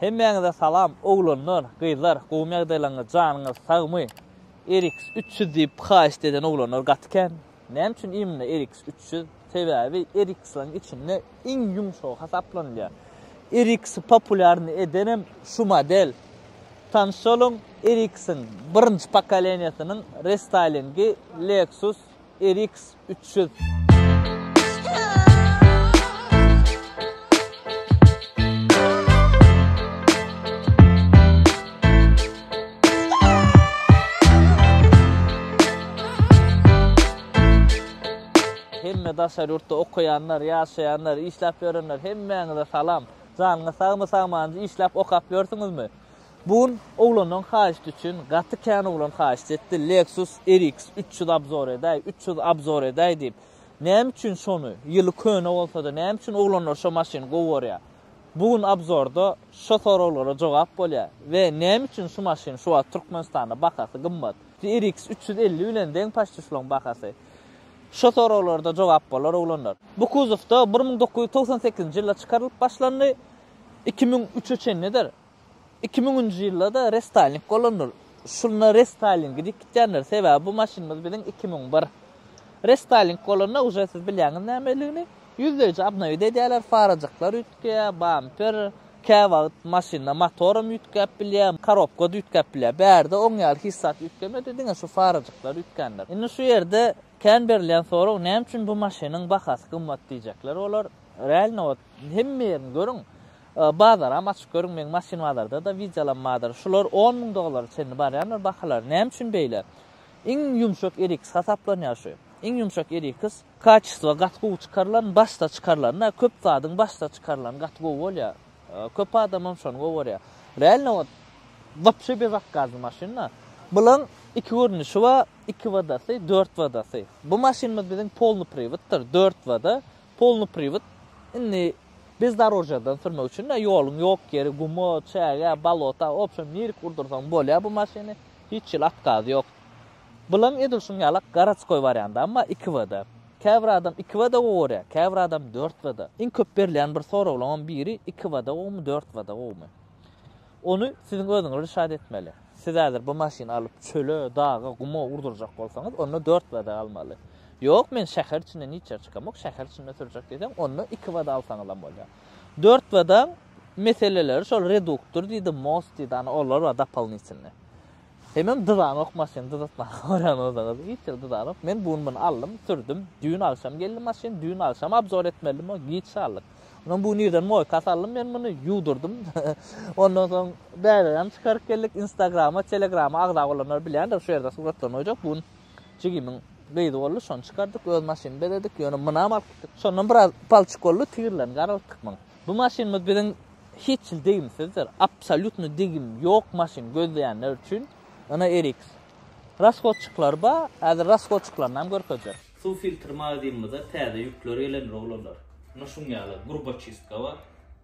Hemmäňize salam oglanlar gyzlar gowymy ýagdaýlaryňyz janyňyz sagmy Erix üç ýüz diýip haýyşt eden oglanlar gaty kän näme üçin imna Erix üç ýüz sebäbi Erixlaryň içinde iň ýumşagy hasaplanylýar Erixi populýarny edenem şu model tanyşalyň Erixiň birinji pokoleniýasynyň restaýlingi Lexus RX üç ýüz. Hemme daşary ýurtda okaýanlar, ýaşaýanlar, işläp ýörenler hemmäňize salam. Janyňyz sagmy, sagmanyňyz, işläp, okap ýörsüňizmi? Bu gün oglanyň haýyşty üçin gaty kän oglan haýyşt etdi Lexus RX üç ýüz abzor edäý, üç ýüz abzor edäý diýip. Näme üçin şony, ýyly köne bolsada näme üçin oglanlar şo maşyny gowy görýär? Bu gün abzorda şo soraglara jogap bolýar. We näme üçin şu maşyn şu wagt Türkmenistanda bahasy gymmat? RX üç ýüz elli bilen deň paçti şulaň bahasy. Şo soraglarda jogap bolar oglanlar. Bu kuzowda bir müň dokuz ýüz togsan sekizinji ýylda çykarylyp başlandy, iki müň üçe çenlidir. Iki müňünji ýylda-da restaýling bolandyr. Şunda restaýlingi diýip gitýändir. Sebäbi bu maşynymyz biziň iki müň bir. Restaýling bolanda uje siz bilýäňiz nämeligini, ýüzleýji obnowit edýärler, farajyklar üýtgeýär, bamper, käwagt maşynda motoram üýtgäp bilýär, korobka-da üýtgäp bilýär. Bärde oň ýaly hiç zat üýtgemedi, diňe şu farajyklar üýtgändir. Indi şu ýerde kän berilýän sorag, näme üçin bu maşynyň bahasy gymmat diýjekler olar. Realnobat hemme ýerini görüň, Bazaram açyp görüň meň maşyn bazardada wideolanmadyr şular on müň dollara çenli barýandyr bahalary näme üçin beýle iň ýumşak eriks hasaplanýar şu iň ýumşak eriks kaçestvo gaty gowy çykarylan başda çykarylanda köp zadyň başda çykarylany gaty gowy bolýar köp adamam şony gowarýar realno wot wapşe bezakgazly maşynda bulaň iki görnüşi bar iki wadasy dört wadasy bu maşynymyz biziň polny priwoddyr dört wada Polny priwod indi bezdorožýadan sürmek üçin-de ýoluň ýok ýeri guma, çägä, bolota, wobşem nirik urdursaň bolýar bu maşyny, hiç hili otkazy ýok. Bylaň edil şuň ýalak garadskoý wariantam bar iki w-da. Käbir adam iki w-da gowy görýär, käbir adam dört w-da. Iň köp berilýän bir soraglaňam biri iki w-da gowumy, dört w-da gowumy? Ony siziň özüňiz rişad etmeli. Siz häzir bu maşyny alyp çöle, daga, guma urdurjak bolsaňyz, onda dört bada almaly. Ýok, men şäher içinden hiç ýere çykamok, şäher içinde sürjek diýseň, onda iki bada alsaňyzam bolýar. Dört badaň meseleleri şol reduktor diýdi, most diýdi, ana olar bar dopolnitylnyý. Hemem dyzanok maşyn dyzatmaga görän özüňiz hiç ýeri dyzanok men bu gün muny aldym sürdüm düýn agşam geldi maşyn düýn agşam abzor etmeldim o giç galdyk ondan bu gün irden moýka saldym men muny ýuwdurdym ondan soň bäbegem çykaryp geldik instagrama telegrama agza bolanlar bilýändir şu ýerde suratlaryny goýjak bu gün jigimiň gyzy boldy şony çykardyk öz maşynyny bezedik ýöne munam alyp gitdik şondan biraz palçyk boldy tigirlerini garaltdyk muň Bu maşynymyz biziň hiç hil degimsizdir, absolýutno degim ýok maşyn gözleýänler üçin Ina RX. Rashodçiklary bar, häzir rashodçiklaryny-am görkezjek. Suw filtr magazynymyza täze ýükler gelen rowlerler, ina şuň ýaly gurbaçistka bar,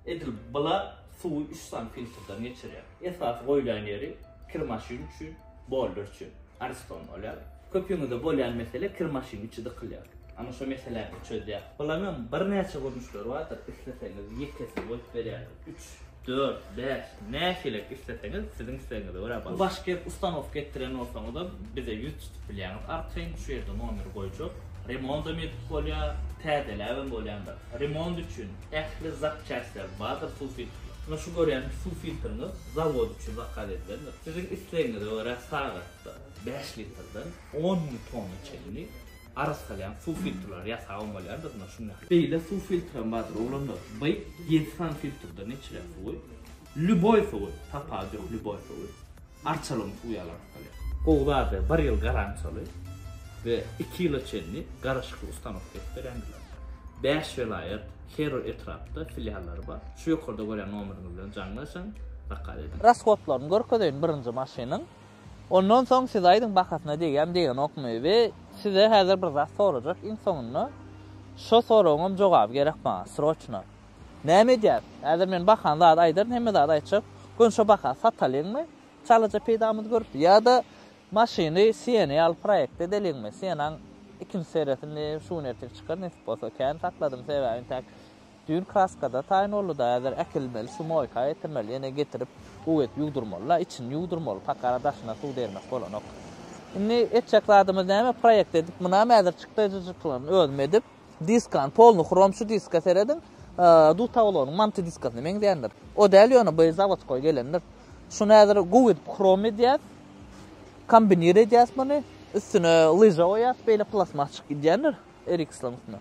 edil bula suwy üç sany filtrden geçirýär. Esasy goýlan ýeri kir maşyn üçin, bolder üçin ariston bolýar. Köpüňizde bolýan mesele kir maşyn içi dykylýar. Ana şo meseläni çözýär. Bulam hem birnäçe görnüşleri bardyr. Isleseňiz ýekesini goýup berýärler. Üç, dört, bäş nähilek isleseňiz siziň islegiňize görä bagyşlyk. Baş kir ustanowka etdiren bolsaňyzam bize ýüz tutup bilýäňiz. Arkaýyn şu ýerde nomeri goýjak. Remondam edip bolýar, täzeläbem bolýandyr. Remont üçin Ähli zapçastlar bardyr suw filtri. Muna şu görýäniň suw filtriňiz zawod üçin zakaz edilendir. Siziň islegiňize görä sagatda bäş litrden on müň tonna çenli arassalaýan suw filtrleri ýasap hem bolýandyr muna şuny. Beýle suw filtri hem bardyr oglanlar. By ýedi sany filtrden içilen suwy lýuboý suwy, tapawut ýok lýuboý suwy. Arçalygyň suw ýaly artgaly. Gowzada bir ýyl garantiýaly we iki ýyla çenli garyşykly ustanok berip berýändirler. Bäş welaýat, her bir etrapda filiallary bar. Şu ýokarda görýän nomeriňiz bilen jaňlaşyň, zakaz ediň. Rashodlaryny görkezeýin birinji maşynyň. Ondan soň siz aýdyň bahasyna degýämi degenokmy we size häzir bir zat sorajak iň soňunda. Şo soragyňam jogaby gerek maňa sroçno. Näme edýäs? Häzir men bakan zady aýdaryn, hemme zady aýtjak. Göni şo baka satalyňmy? Çalaja peýdamyzy görüp, ýa-da maşyny Sienä alyp proýekt edeliňmi? Sienaň ikinji seresini şu gün ertir çykar, nesip bolsa. Kän sakladym, sebäbi intäk düýn kraskada taýyn boldy-da, häzir äkilmeli, sumoýka getirmeli, ýene getirip uw edip ýuwdurmaly-la, içini ýuwdurmaly, pakara daşyna suw dermek bolanok. Indi etjek zadymyz näme, proýekt edip, mynam häzir çykdaýjyjyklaryny özüm edip, Diskan, polny hrom şu diska serediň, dutaglonyň manty diskasyna meňzändir. O däl ýöne bu zawodkoý gelendir. Şuny häzir gowy edip hrom edýär. Kombinir edýäs muny. Üstüne lyža goýýas, beýle plasmas çykyp gidýändir. Erikslan üstüne.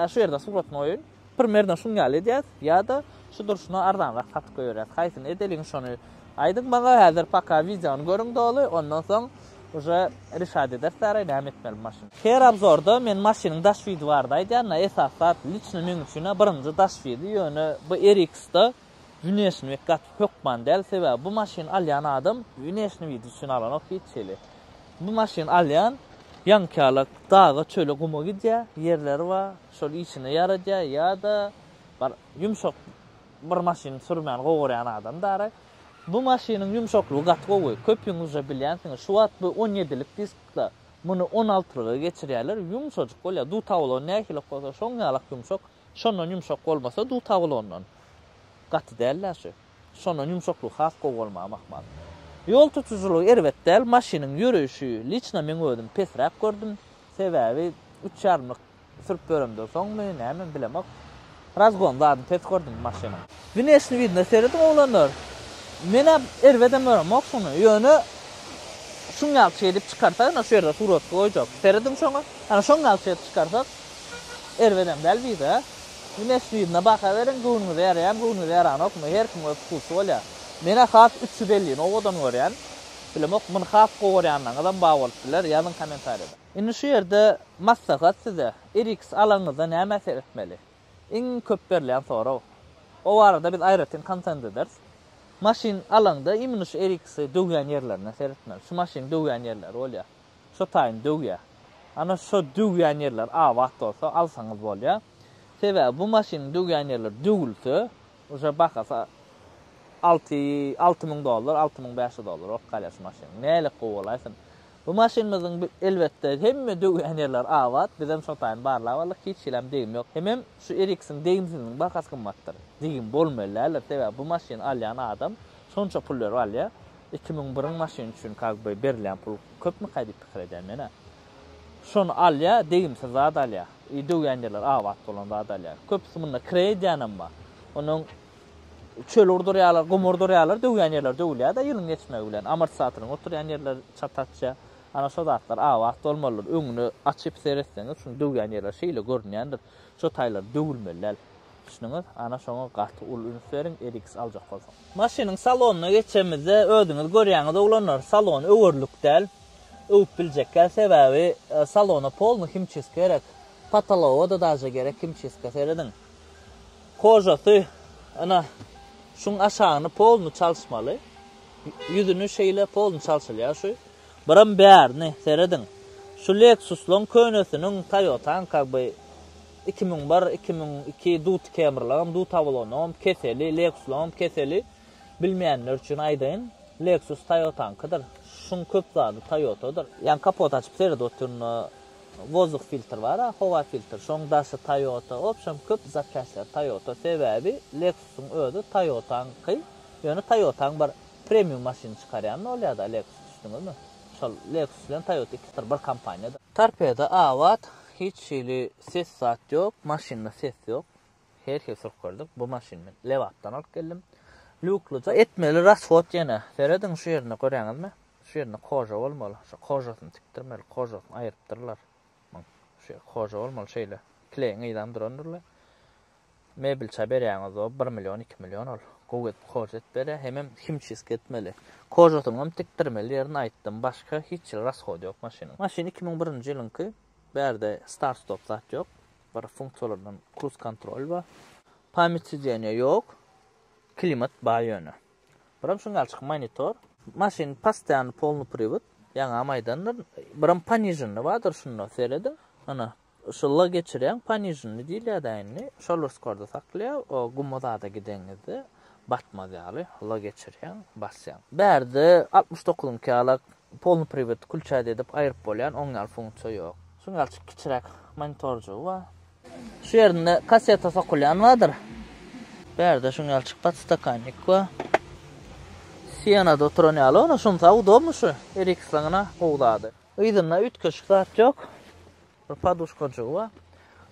Şu ýerde suratyn goýun. Primerno şuny ýaly edýäs, ýa-da şu durşuna arzanrak satyp goýberýäs. Haýsyny edeliň şony aýdyň maňa, häzir paka wideony görüň doly, ondan soň uje rişat ederis ara näme etmeli bu maşyny. Her abzorda men maşynyň daş wizi barada aýdýan da esas zat liçno meň üçin birinji daş wizi ýöne bu RX-da Wnesni bek gaty hökman däl sebäbi bu maşyny alýan adam wnesni wid üçin alanok hiç hili. Bu maşyny alýan ýaňkyýalak daga çöle guma gidýär ýerleri bar şol işine ýaradýar ýa-da bir ýumşak bir maşyny sürmän gowarýan adam darak. Bu maşynyň ýumşaklygy gaty gowy köpüňizje bilýänsiňiz şu wagt bu on ýedilik diskda muny on altylyga geçirýärler ýumşajyk bolýar dutaw bolsa nähili bolsa şoň ýalak ýumşak. Şondan ýumşak bolmasa duta bolandan. Gaty däl-dä şu. Şondan ýumşaklygy has gowy bolmagy mahmal. Ýol tutujylygy erbet däl, maşynyň ýöreýşi liçna meň özüm pesräk gördüm. Sebäbi üç ýarymlyk sürüp ýöremden soňmy, nämemi bilemok. Razgon zadyny pes gördüm maşynyň. Winesini widna serediň oglanlar. Menä erbedem göremok şuny. Ýöne şuň ýaly şey edip çykarsak ine şu ýerde suratky goýjak. Serediň şoňa. Ana şoň ýaly şey edip çykarsak erbedem däl bize. Winesini widna baha beriň göwnüňize ýaraýamy göwnüňize ýaranokmy her kim öz wkusy bolýar. Menä has üç ýüz ellini owadan görýän. Bilemok muny has gowy görýänleriňizem bar bolup biler ýazyň kommentariýada. Indi şu ýerde maslahat size. RX alanyňyzda nämä seretmeli. Iň köp berlen sorag. O barada biz aýratyn kontent ederis. Maşyn alaňda imini şu eriksy döwýän ýerlerine seretmeli. Şu maşynyň döwýän ýerleri bolýar. Şo taýyny döwýär. Ana şo döwýän ýerler abat bolsa alsaňyz bolýar. Sebäbi bu maşynyň döwýän ýerleri döwülse uje bahasy alty alty müň dollar, alty müň bäş ýüz dollar bolup galýar şu maşynyň. Nälik gowy bolaýsyn. Bu maşynymyzyň elbetde hemme döwýän ýerleri abat, bizem şo taýyn barlap aldyk, hiç hilem degim ýok. Hemem şu Ericsson degimsiziniň bahasy gymmatdyr. Degim bolmaly däldir, sebäbi bu maşyny alýan adam şonça pul berip alýar. Iki müň biriň maşyny üçin kak by berilýän pul köpmükä diýip pikir edýän men-ä. Şony alýar, degimsiz zat alýar. I döwýän ýerleri abat bolan zat alýar. Köpüsi munda kire edýänem bar. Onuň çöl urdurýarlar, gum urdurýarlar, döwýän ýerler döwülýär-de ýylyň geçmegi bilen. Amortizatorlaryň oturýan ýerleri çat-açja. Ana şo zatlar abat bolmalydyr. Öňüne açyp seretseňiz, şuny döwýän ýerler şeýle görünýändir. Şo taýlar döwülmeli däl. Düşündüňiz? Ana şoňa gaty uly üns beriň, RX aljak bolsaňyz. Maşynyň salonyna geçemizde, özüňiz görýäňiz oglanlar, salon öwerlik däl. Öwüp biljek däl, sebäbi salona polny himçiska gerek. Potologa-da daže gerek himçiska. Serediň. Hojasy, Ene, şuň aşagyny polny çalyşmaly. Ýüzüni şeýle polny çalşylýar şu. Biram bärini serediň. Şu Lexus-laň könesiniň, Toyota-nyň kagby iki müň bir, iki müň iki duty Camry-laňam duty awalonlaňam keseli, Lexus-laňam keseli. Bilmeýänler üçin aýdaýyn, Lexus Toyota-nyňkydyr. Şuň köp zady Toyota-dyr. Ýaňy kapot açyp seredip otyryn-da, Wozduk filtr bara howa filtr şoň daşy Toyota obşem köp zapçastlar Toyota sebäbi Lexusyň özi Toyotaňky ýöne Toyotaň bir premium maşyny çykarýan ol ýada Lexus düşdüňizmi şol Lexus bilen Toyota ikisi bir bir kompaniýa. Torpedo abat hiç hili ses zat ýok maşynda ses ýok her hil sürkürdik bu maşyny men lebapdan alyp geldim lýuklyja. Etmeli rashod ýene. Serediň şu ýerine görýäňizmi? Şu ýerinde koja bolmaly, şu kojasyny tikdirmeli, kojasyny aýyrypdyrlar. Muň, şu ýer koja bolmaly, şeýle kleýiň yzam durandyr-la. Mebelçä berýäňiz-ow, bir million, iki million ol. Gowy edip koja edip berýär, hemem himçiski etmeli. Kojasynyňam tikdirmeli ýerini aýtdym, başga hiç hili rashody ýok maşynyň. Maşyn iki müň birinji ýylyňky, bärde start-stop zat ýok, bir funksiýalaryndan kruz-kontrol bar. Pamýat sideniýa ýok, klimat bar ýöne. Birem şuň ýaly çyk monitor. Maşyn postoýany polny priwod, ýaňam aýdandyr. Birem poniženny bardyr şunda serediň. Ana, şu L geçirýäň, poniženny diýilýär-dä indi. Şol bir skorda saklýar, o guma zada gideňizde batmaz ýaly L geçirýäň, basýaň. Bärde altmyş dokuzyňky ýala polny priwod kulçady edip aýryp bolýan oň ýaly funksiýa ýok. Şuň ýaly çyk kiçiräk monitorjygy bar. Şu ýerinde kasseta sokulýan bardyr. Bärde şuň ýaly çykgat stakannik bar. Sienada oturan ýaly ony şunsa udobmy şu Eriksonyna gowy zady. Yzynda üýtgeşik zat ýok. Bir poduşkajygy bar.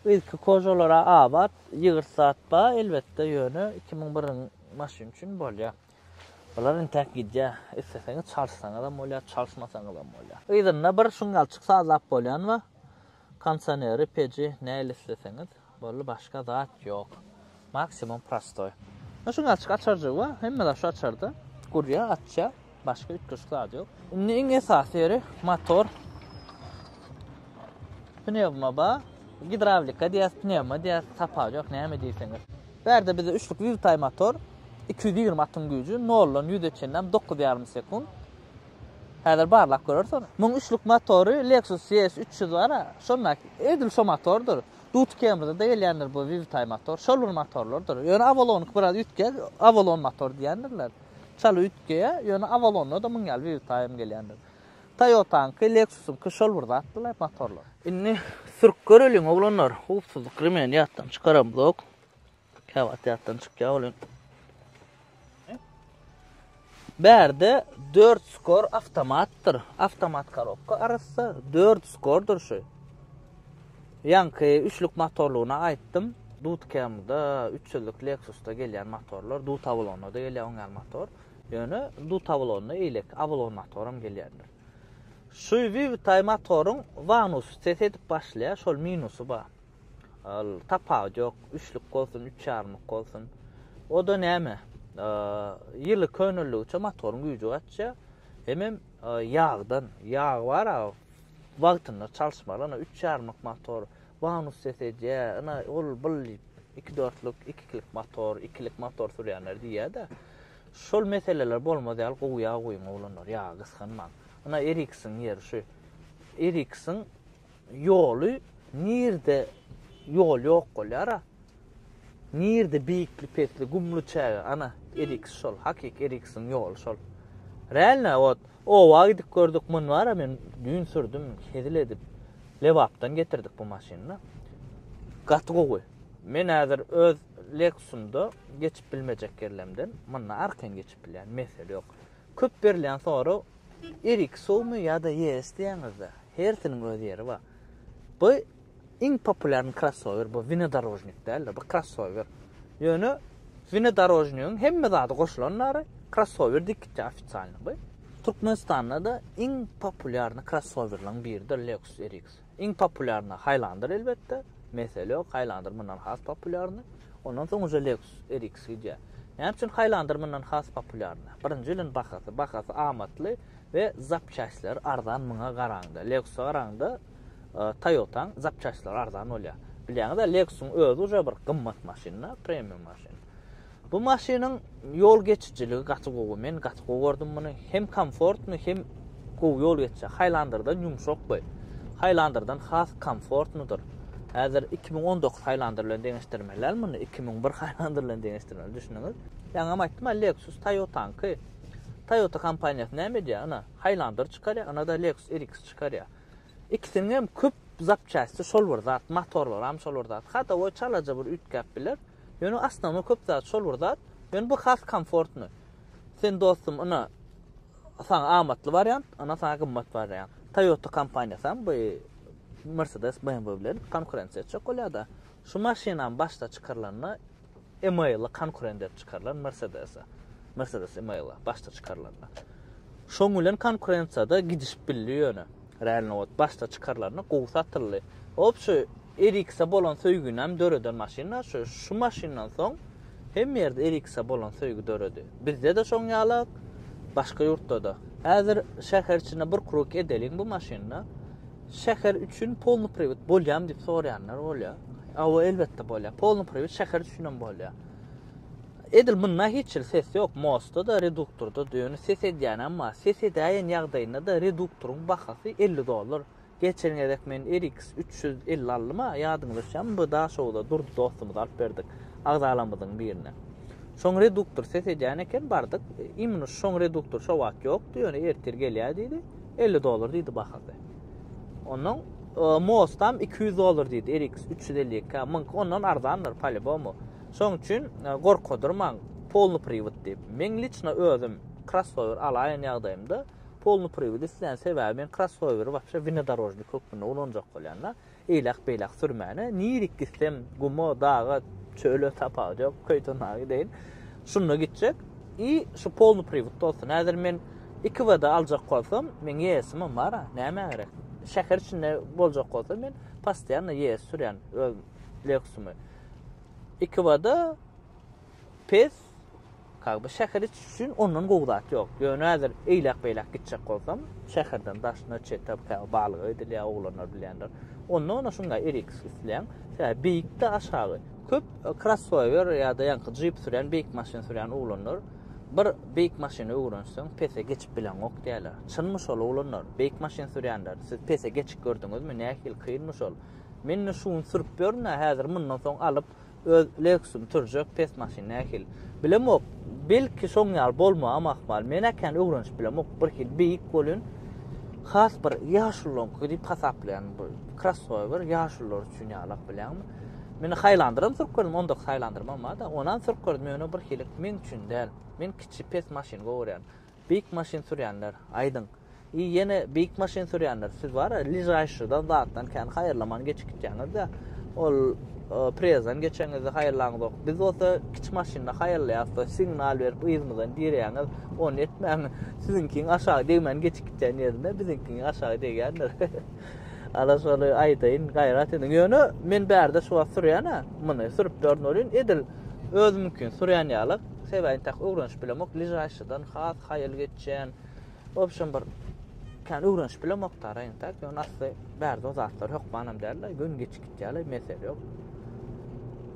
Yzky kožolara abat, ýygyrt zat bar elbetde ýöne iki müň biriň maşyn üçin bolýar. Bular entäk gidýär. Isleseňiz çalyşsaňyzam bolýar çalyşmasaňyzam bolýar. Yzynda bir şuň ýalyçyk sazlap bolýan bar. Konsaneri peji näli isleseňiz bolly başga zat ýok maksimum prostoý. Ýa şuň açyk açarjygy bar hemme zat şu açarda gurýa açýa başga üýtgeşik zat ýok. Indi iň esasy ýeri motor pnewma bar gidrawlika diýýäs pnewma diýýäs tapawudy ýok näme diýseňiz. Bärde bizde üçlük züwtaý motor iki ýüz ýigrimi atyň güýji noldan ýüze çenlem dokuz ýarym sekunt Häzir barlap göreris ony. Muň üçlük motory Lexus ES üç ýüz bar-a, şondaky, edil şo motordyr. Duty Camry-da-da gelýändir bu Vivtay motor, şol bir motorlardyr. Ýöne Avalon-yňky biraz üýtge, Avalon motor diýýändirler. Çal üýtgeýä, ýöne Avalon-da-da muň ýaly Vivtay-ym gelýändir. Toyota-yňky, Lexus-yňky şol bir zatdyr-la motorlar. Indi sürüp göreliň, oglanlar. Howpsuzlyk remeni ýatdan çykaramyzok. Käwagt ýatdan çykýar welin. Bärde 4 skor awtomatdyr. Awtomat korobka arassa 4 skordyr şu. Ýaňky üçlük motorlugyna aýtdym. Dut kemde 300-lük Lexus-da gelýän motorlar, Dut Avalon-da gelýär oňa motor. Ýöne Dut Avalon-da eýlek Avalon motoram gelýändir. Şu Vivtay motoryň vanusy ses edip başlaýar, şol minusy bar. Ol tapawut ýok, üçlük bolsun, üç ýarymlyk bolsun. O-da näme? Ýyly köneldigiçe motoryň güýji gaçýar. Hemem ýagdan, ýag bar a wagtynda çalyşmaly, ina üç ýarymlyk motor, bonus ses edýär, ina ol bul diýip, iki dörtlük, ikilik motor, ikilik motor sürýänler diýýär-de. Şol meseleler bolmaz ýaly gowy ýag guýuň oglanlar, ýagy gysganmaň. Ina RX-iň ýeri şu. RX-iň Ýoly nirde ýol ýok bolýara. Nirde beýikli pesli gumly çäge ana eriks şol hakyky eriksiň ýoly şol. Realna ot oba gidip gördük mun bara men düýn sürdüm hezil edip Lebapdan getirdik bu maşynyda. Gaty gowy. Men häzir öz Lexusymda geçip bilmejek ýerlemden munda arkan geçip bilýän mesele ýok. Köp berilýän sorag, Erik suwmy ýa-da ES diýýäňizde, hersiniň öz ýeri bar. Bu iň populýarny krossower, bu wnedorožnik däl-de, bu krossower. Ýöne wnedorožnigiň hemme zady goşulan bary, krossower dik gitýär ofisalny bu. Türkmenistanda-da iň populýarny krossowerlaryň biridir Lexus RX. Iň populýarny Highlander elbetde, mesele ýok, Highlander mundan has populýarny. Ondan soň uje Lexus RX gidýär. Näme üçin Highlander mundan has populýarny? Birinji ýylyň bahasy, bahasy amatly we zapçastlar arzan muňa garaňda. Lexus-a garaňda Toyota-nyň zapçastlary arzan bolýar. Bilýäňiz-ä Lexus-yň özi uje bir gymmat maşyn-da, premium maşyn. Bu maşynyň ýol geçijiligi gaty gowy. Men gaty gowy gördüm muny. Hem komfortny, hem gowy ýol geçýär. Haýlandyrdan ýumşak we Haýlandyrdan has komfortnydyr. Häzir iki müň on dokuz Haýlandyr bilen deňeşdirmeliler muny, iki müň bir Haýlandyr bilen deňeşdirmeli, düşündiňiz? Ýaňam aýtdym, a Lexus Toyota-nyňky. Toyota kompaniýasy näme edýär? Ina, Haýlandyr çykarýar, ina-da Lexus RX çykarýar. Ikisiniň hem köp zapçasti şol bir zat, motorlaram şol bir zat. Hadowoý çalaja bir üýtgäp biler. Ýöne asnownoý köp zat şol bir zat. Ýöne bu has komfortny. Sen dostum ina saňa amatly wariant, ina saňa gymmat wariant. Toyota kompaniýasy hem bu Mercedes BMW bilen konkurensiýa etjek bolýar-da. Şu maşynam başda çykarylanda Email-a konkurent edip çykarylan Mercedes-e. Mercedes Email-a başda çykarylanda. Şoň bilen konkurensiýada gidişip bildi ýöne. Renault başda çykarylanda gowy satyldy. Hop şu RX-e bolan söýgini hem döreden maşynlar şu. Şu maşyndan soň hemme ýerde RX-e bolan söýgi döredi. Bizde-de şoň ýala, başga ýurtda-da. Häzir şäher içinde bir kruk edeliň bu maşynda. Şäher üçin polny priwit bolýamy diýip soraýanlar bolýar. Hawa, elbetde bolýar. Polny priwit şäher üçin hem bolýar. Edil munda hiç hil ses ýok, MOS-da-da, reduktorda-da, ýöne ses edýänem bar. Ses edäýen ýagdaýynda-da reduktoryň bahasy elli dollar. Geçen gezek men RX üç ýüz elli aldym-a, ýadyňyza düşýärmi, bu Daşoguzda Durdy dostumyza alyp berdik, agzalarymyzyň birine. Şoň reduktor ses edýän eken, bardyk, imенно şoň reduktory şo wagt ýokdy, ýöne ertir gelýär diýdi, elli dollar diýdi bahasy. Onnoň MOS-dam iki ýüz dollar diýdi, RX üç ýüz elli iki, muňky ondan arzandyr, po-lýubomu. Şoň üçin gorkadyrmaň polny priwod diýip. Meň liçno özüm krossower alaýan ýagdaýymda polny priwod islän sebäbi men krossoweri wapşe winodorožnik hökmünde ulanjak bolýanda eýläk beýläk sürmäne nirik gitsem guma daga çöle tapawudy ýok köýtona gideýin şunda gitjek i şu polny priwod bolsun häzir men iki wda aljak bolsam men ýeesimem bara näme gerek şäher içinde boljak bolsa men postoýanno ýees sürýän öz lexumy Ekibada pes Kag bu şäher iç üçin ondan gowy zat ýok. Ýöne häzir eýläk-beýläk gitjek bolsam, şäherden daşyna çete käw balyga gidilýär, oglanlar bilýändir. Onda ony şuňa erik islän, şä beýikde aşagy. Köp krossower ýa-da ýaňky jip sürýän, beýik maşyn sürýän oglanlar bir beýik maşyny öwrenseň, pese geçip bileňok diýýärler. Çynmy şol oglanlar? Beýik maşyn sürýänler, siz pese geçip gördüňizmi? Nähili kynmy şol? Mende şu gün sürüp ýörün-ä, häzir mundan soň alyp, öz Lexusym sürjek, pes maşyn nähili. Bilemok, belki şoň ýaly bolmagam ahmal. Men-ä kän öwrenişip bilemok, birhili beýik bolýun. Has bir ýaşullaryňky diýip hasaplaýan bu krossower ýaşullar üçin ýalak bilýäňmi? Men Highlander-am sürüp gördüm, ondaki Highlander-ym bar-da, onam sürüp gördüm, ýöne birhili meň üçin däl. Men kiçi, pes maşyny gowy görýän. Beýik maşyn sürýänler, aýdyň. I ýene beýik maşyn sürýänler, siz bar-a, ližaýşydan, zatdan kän haýyrlaman geçip gitýäňiz-dä. Ol preýezden geçeňizde haýyrlaňyzok. Biz bolsa kiçi maşynda haýyrlaýas-da, signal berip yzymyzdan direýäňiz. Ony etmäň. Siziňkiň aşagy degmän geçip gitýän ýerinde biziňkiň aşagy degýändir. Ana şony aýdaýyn, gaýrat ediň. Ýöne men bärde şu wagt sürýän-ä, muny sürüp ýören welin edil özümiňkini sürýän ýaly. Sebäbini tak öwrenişip bilemok, bližaýşydan has haýal geçýän, obşem bir kän öwrenişip bilemok taraýyn tak, ýöne asly bärde o zatlar hökmanam däldi, gün geçip gitýärdi, mesele ýok.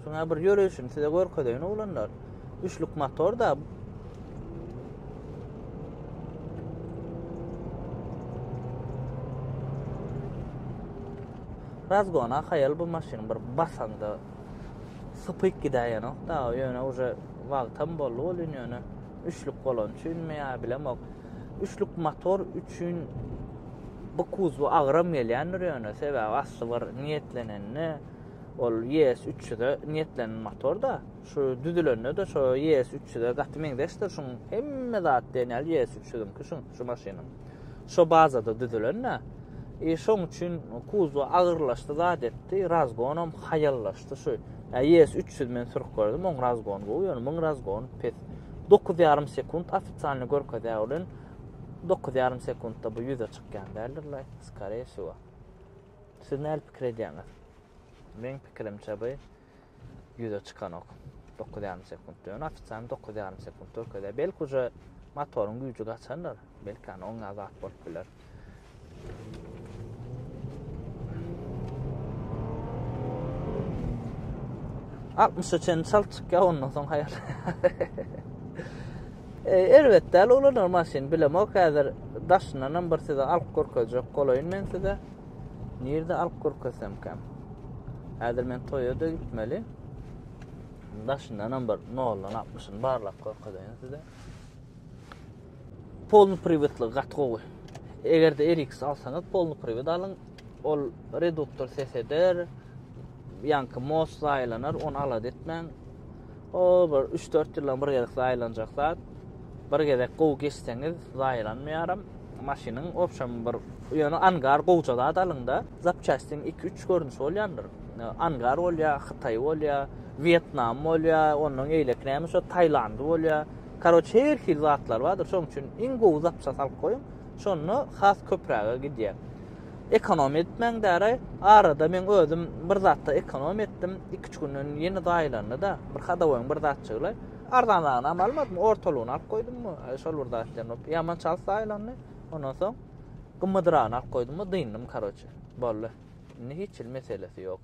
Şuňa bir ýörüşini size görkezeýin oglanlar. Üçlük motor da Razgona haýal bu maşyn bir basaňda sypyk gidäýenok da ýöne uje wagtam boldy welin ýöne üçlük bolan üçinmi ýa bilemok üçlük motor üçin bu kuzby agram gelýändir ýöne sebäbi asly bir niýetlenende ol ES 300-e niýetlenen motor da şu düzülende de şu ES 300-e gaty meňzeşdir şuň hemme zat diýen ýaly ES 300-iňki şuň şu maşynyň Şo bazada düzülen-dä. E, şoň üçin kuzo agyrlaşdy, zat etdi. Razgonam haýallaşdy şu. Ä, ýes 300 men sürüp gördüm, oň razgon gowy, ýöne muň razgon pes. Dokuz ýarym sekunt ofitsialny görkezýär welin, dokuz ýarym sekuntda bu ýüze çykýan däldir laý, skareýsýowa. Siz näli pikir edýäňiz? Meň pikirimçe bu ýüze çykanok. Dokuz ýarym sekuntda. Ýöne ofisialny dokuz ýarym sekunt görkezýär. Belki uje motoryň güýji gaçandyr. Belki ýany oňa zat bolup biler. Altmış üçen çal çykýar, ondan soň haýal. E, erbet däl ulanýar maşyn, bilemok häzir daşyndan hem bir size alyp görkezjek bolaýyn men size. Nirde alyp görkezsemkäm? Häzir men toýa-da gitmeli. Daşyndanam bir 0-dan 60-ny barlap görkezeýin size. Polny priwitli gaty gowy. Eger-de RX alsaňyz, polny priwit alyň. Ol reduktor ses eder. Ýaňky most aýlanar, ony alada etmäň. O bir 3-4 ýyldan bir gezek aýlanjak zat. Bir gezek gowy geçseňiz, zaýalanmaýaram. Maşynyň obşam bir ýöne angar gowja zat alyňda, zapçastiň 2-3 görnüşi bolýandyr. Angar bolýa, hytaý bolýa, wýetnam bolýa, ondan eýleki näme şo taýlandy bolýa. Karoç her hil zatlar bardyr. Şoň üçin iň gowy zapçasty alyp goýuň. Şonda has köpräge gidýär. Ekonom etmäň däraý. Arada men özüm bir zatda ekonom etdim. Iki-üç günden ýene zaýalandy-da. Bir hadowoýyň bir zatjygylaý. Arzanragynam almadym, ortalygyny alyp goýdum. Şol bir zat diýen bolup, ýaman çalt zaýalandy. Ondan soň gymmadyragyny alyp goýdum, dyndym, karoçi. Boldy. Indi hiç hili meselesi ýok.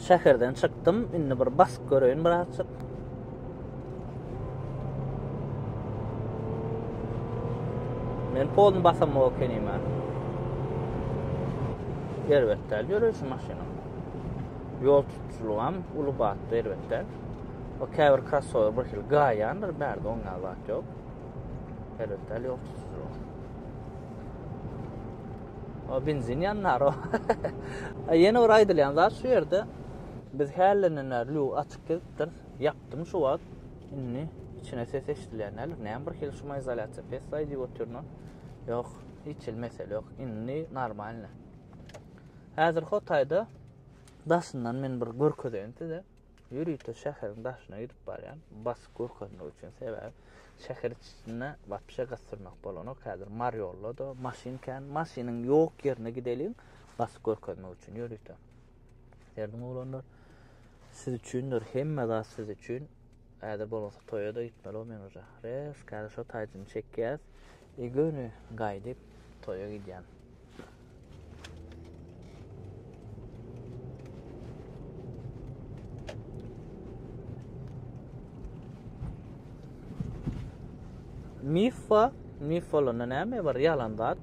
şäherden çykdym. Indi bir bas göreýin birazjyk. Men polny basam okenime. Elbetde, ýörüşi maşyna. Ýol tutujylygam uly batda elbetde. O käbir krossower bir hili gaýandyr, bärde oň ýaly zat ýok. Elbetde ýol tutujylygy. O benzin ýannar o. Ýene bir aýdylýan zat şu ýerde biz hällenden bäri lüg açyk gezipdir. Ýapdym şu wagt. Indi içine ses eşidilýän däl. Näme bir hili şumizolýasiýa pessaý diýip otyryn. Ýok, hiç hili mesele ýok. Indi normalny. Häzir Hotaýda daşyndan men bir görkezeýin size. Ýörite şäheriň daşyna ýetip barýan, basyp görkezmek üçin sebäbi şäher içinde wapşe gyssyrmak bolanok. Häzir Mariollada maşyn kän, maşynyň ýok ýerine gideliň, basyp görkezmek üçin ýörite. Derdim oglanlar, siz üçindir, hemme zat siz üçin. Häzir bolmasa toýa-da gitmelio men uja. Rezk häzir şo taýjyny çekýäs i göni gaýdyp toýa gidýän. Miffa, mif bolanda näme bar? Ýalan zat.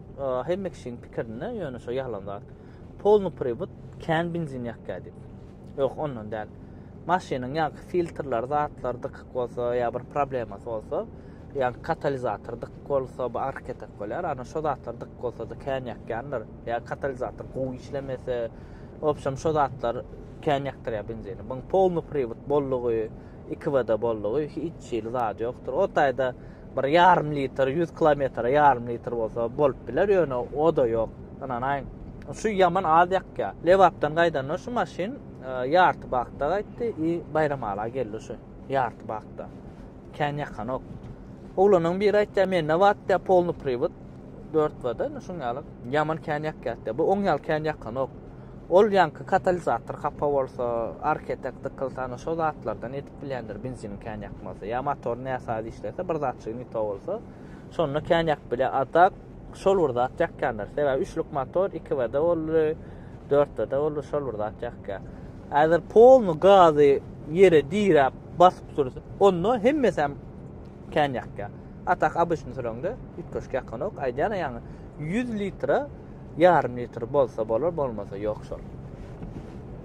Hemme kişiň pikirinde ýöne şo ýalan zat. Polny pribut, kän benzin ýakýar diýip. Ýok, ondan däl. Maşynyň ýaňky filtrleri, zatlary dykyk bolsa ýa bir problemasy bolsa, ýa katalizator dykyk bolsa, bu arketek bolýar. Ana şo zatlar dykyk bolsa-da kän ýakýandyr. Ýa katalizator gowy işlemese, obşem şo zatlar kän ýakdyrýar benzini. Buň polny pribut bollugy, 2 wda bollugy hiç hili zady ýokdur. O taýda bir ýarym litr, ýüz kilometre ýarym litr bolsa bolup biler, ýöne o-da ýok. Ynanaýyň, şu ýaman az ýakýar. Lebapdan gaýdanda şu maşyn e, ýarty bakda gaýtdy i Baýramala geldi şu ýarty bakda. Kän ýakanok. Oglanyň biri aýtýar, mende bat diýär, polny priwod. Dört bada, indi şuň ýaly. Ýaman kän ýakýar diýär. Bu oň ýaly kän ýakanok. Ol ýaňky katalizator hapa bolsa, arketek dykylsa, ana şo zatlardan Blender benziniň kän ýakmasy. Ýa motor näsaz işlese, bir zatçygy ne to bolsa, şonda kän ýakyp bile. A tak şol bir zat ýakýandyr. Sebäbi üçlük motor 2-de boldy, 4-de boldy, şol bir zat ýakýa. Häzir polny gazy ýere diräp basyp dursa, onda hemmesi hem kän ýakýa. A tak abyşny sürende üýtgeşik ýakanok. Aýdýan ýaňy 100 litre, ýarym litr bolsa bolar, bolmasa ýok şol.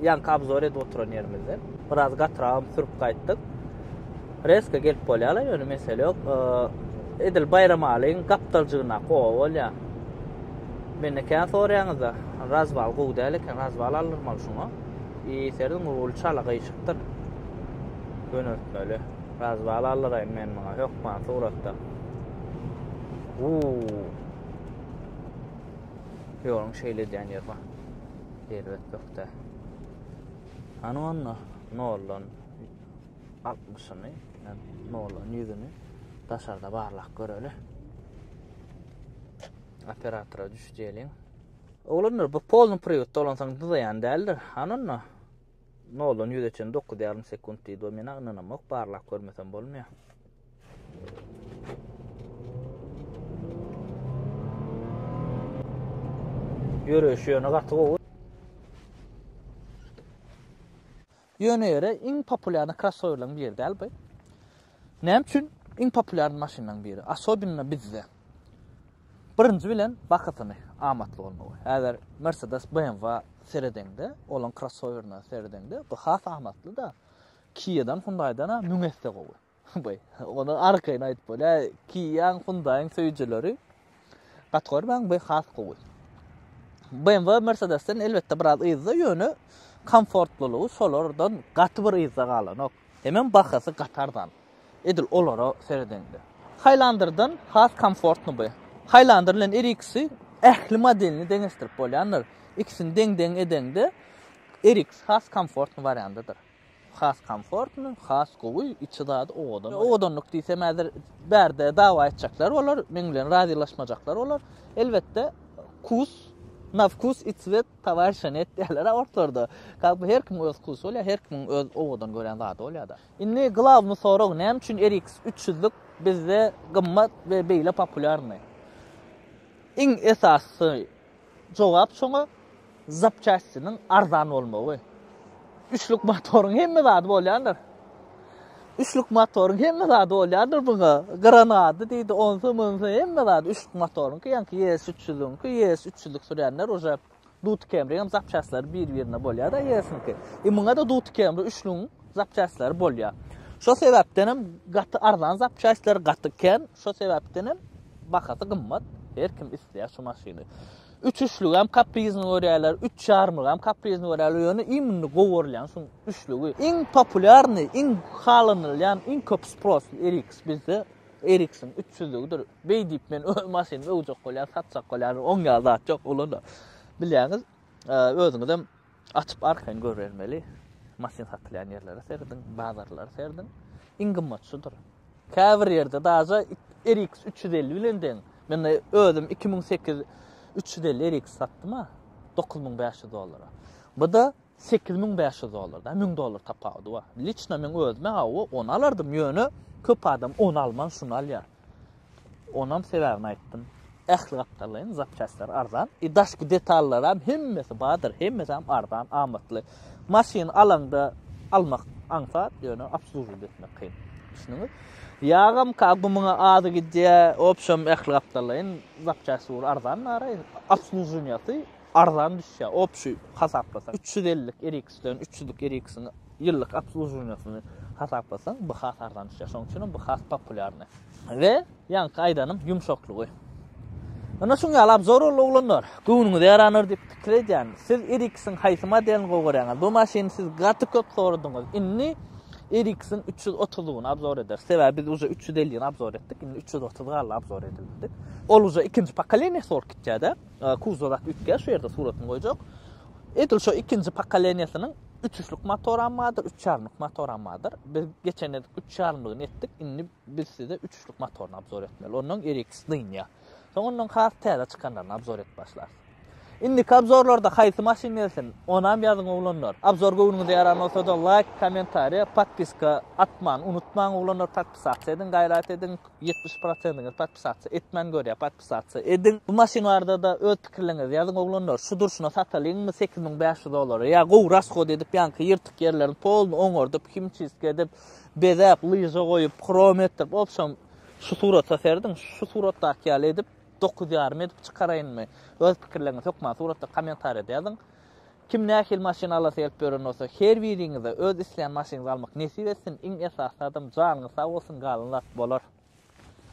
Ýanky obzor edip oturan ýerimizden biraz gatragam sürüp gaýtdyk. Reska gelip bolýarlar, ýöne mesele ýok. Edil Baýramalyň gapdaljygynda gowa bolýar. Mende kän soraýaňyzda, razbal gowy däl eken, razbal aldyrmaly şuňa. I serdiň ruly çala gyşykdyr. Göneltmeli. Razbal aldyraýyn men muňa hökman suratda. Uuu. Ýoluň şeýle edýän ýeri bar. elbetlikde. Hany onda noldan altmyşyny, noldan ýüzüni daşarda barlak göreli. Operatora düş diýeliň. Oglanlar bu polny priýutda olansaň dyzaýan däldir. Hany onda. Noldan ýüze çen dokuz ýarym sekunt diýdi o mena ynanamok barlap görmesem bolmaýar. Ýöreýşi ýöne gaty gowy. Ýöne ýere iň populýarny krossowerleriň biri däl bu. Näme üçin iň populýarny maşynlaryň biri, asobinno bizde? Birinji bilen bahasyny, amatly bolmagy. Häzir Mercedes, BMW seredeňde, olaň krossowerine seredeňde, bu has amatly-da. Kia-dan, Hyundai-dan-a müň esse gowy. Beý, ony arkaýyn aýdyp bolýar. Kia-nyň, Hyundai-nyň söýüjileri Kategoriýaň bu has gowy. BMW Mercedesden elbetde biraz yzda ýöne komfortlylygy şolardan gaty bir yzda galanok. Hemem bahasy gaty arzan. Edil olara seredeňde. Highlander-dan has komfortly bu. Highlander bilen RX-i ähli modelini deňeşdirip bolýandyr. Ikisini deň-deň edeňde RX has komfortly wariandydyr. Has komfortny, has gowy, içi zady owadan. Owadanlyk diýsem häzir bärde dawa etjekler bolar, meň bilen razylaşmajaklar bolar. Elbetde, wkus, na wkus i cwet towarişa net diýerler-a ortlarda. Kak bi her kimiň öz wkusy bolýar, her kimiň öz owadan görýän zady bolýar-da. Indi glawny sorag, näme üçin RX üç ýüzlük bizde gymmat we beýle populýarny? Iň esasysy, Jogap şoňa zapçastiniň arzan bolmagy. Üçlük motoryň hemme zady bolýandyr. Üçlük motoryň hemme zady bolýandyr buňa. Gyran ady diýdi, onsy munsy hemme zady üçlük motoryňky, ýaňky ES 300-iňki, ES 300-lik sürýänler uje Duty Camry hem zapçastlary bir-birine bolýar-da ES-niňki. E muňa-da Duty Camry üçlügiň zapçastlar bolýar. Şo sebäpden hem gaty arzan zapçastlar gaty kem, şo sebäpden hem bahasy gymmat. Her kim isleýär şu maşyny. Üç üçlügi hem kaprizini görýärler, üç çarmygy hem kaprizini görýärler. Ýöne iň gowurlan şu üçlügi. Iň populýarny, iň halanylýan, iň köp sprosly RX bizde Eriksin 300-lügidir. Beý diýip men öz maşynymy öwjek bolýar, satjak bolýar. Oňa zat ýok, ulan. Bilýäňiz, özüňiz hem Açyp arkaýyn görübermeli. Maşyn satylýan ýerlere serediň, bazarlara serediň. Iň gymmat şudur. Käbir ýerde daja RX 350 bilen deň. Men özüm 2008 350 RX satdym-a 9500 dollara. Bu da 8500 dollar da 1000 dollar tapawudy bar. Liçna men özüme hawa onu alardym ýöne köp adam onu alman şunu alýar. Onam sebäbini aýtdym. Ähli gapdallaýyn, zapçastlar arzan, i daşky detallaram hemmesi bardyr, hemmesem arzan, amatly. Maşyn alaňda almak aňsat, ýöne obslužiwt etmek kyn. Düşündiňiz? Ýagam ka gumuň azy gidýär, w obşem ähli gapdallaýyn, zapçasty ugur arzan naraý, obsluženiýasy Arzan düşýär, opşuý hasaplasaň, üç ýüz ellik RX-den üç ýüzlük RX-iň ýyllyk obslužuwaniýasyny hasaplasaň, bu has arzan düşýär. Şonuň üçin hem bu has populýarny. We ýaňky aýdanym ýumşaklygy. Ine şuň ýaly obzor boldy oglanlar. Göwnüňize ýarandyr diýip pikir edýän. Siz RX-iň haýsy modelini gowy görýäňiz? Bu maşyny siz gaty köp soradyňyz. Indi RX-iň üç ýüz otuzyny obzor ederis. Sebäbi biz uje üç ýüz ellini obzor etdik, indi üç ýüz otuz galdy obzor edilmedik. Ol uje ikinji pokoleniýasy bolup gitýär-de. Kuzow zat üýtgär, şu ýerde suratyny goýjak. Edil şo ikinji pokoleniýasynyň üçüşlik motoram bardyr, üç ýarymlyk motoram bardyr. Biz geçen gezek üç ýarymlygyny etdik, indi biz size üçüşlik motoryny abzor etmeli. Ondan RX dynýa. Soň ondan has täze çykanlaryny abzor edip başlarys. Indi kabzorlarda haýsy maşyn gelsin? Onam ýazyň oglanlar. Abzor göwnüňize ýaran bolsa da laýk, kommentariýa, podpiska atman unutmaň oglanlar, podpisasiýa ediň, gaýrat ediň. 70 prosentiňiz podpisasiýa etmän görýär. Satsa ediň. Bu maşyn barada-da öz pikirleriňizi ýazyň oglanlar. Şu durşuna satalyňmy sekiz müň bäş ýüz dollara? Ýa gowy raskod edip ýanky ýyrtyk ýerlerini poluny oňardyp, himçistka edip, bezäp, lyža goýup, hrom etdirip, obşem şu surata serediň, şu suratdaky ýaly edip, dokuz ýarym edip çykaraýynmy? Öz pikirleriňizi hökman suratda kommentariýada ýazyň. Kim nähili maşyn alasy gelip ýören bolsa, her biriňize öz isleýän maşynyňyzy almak nesip etsin. Iň esasy zadam janyňyz sag bolsun, galan zat bolar.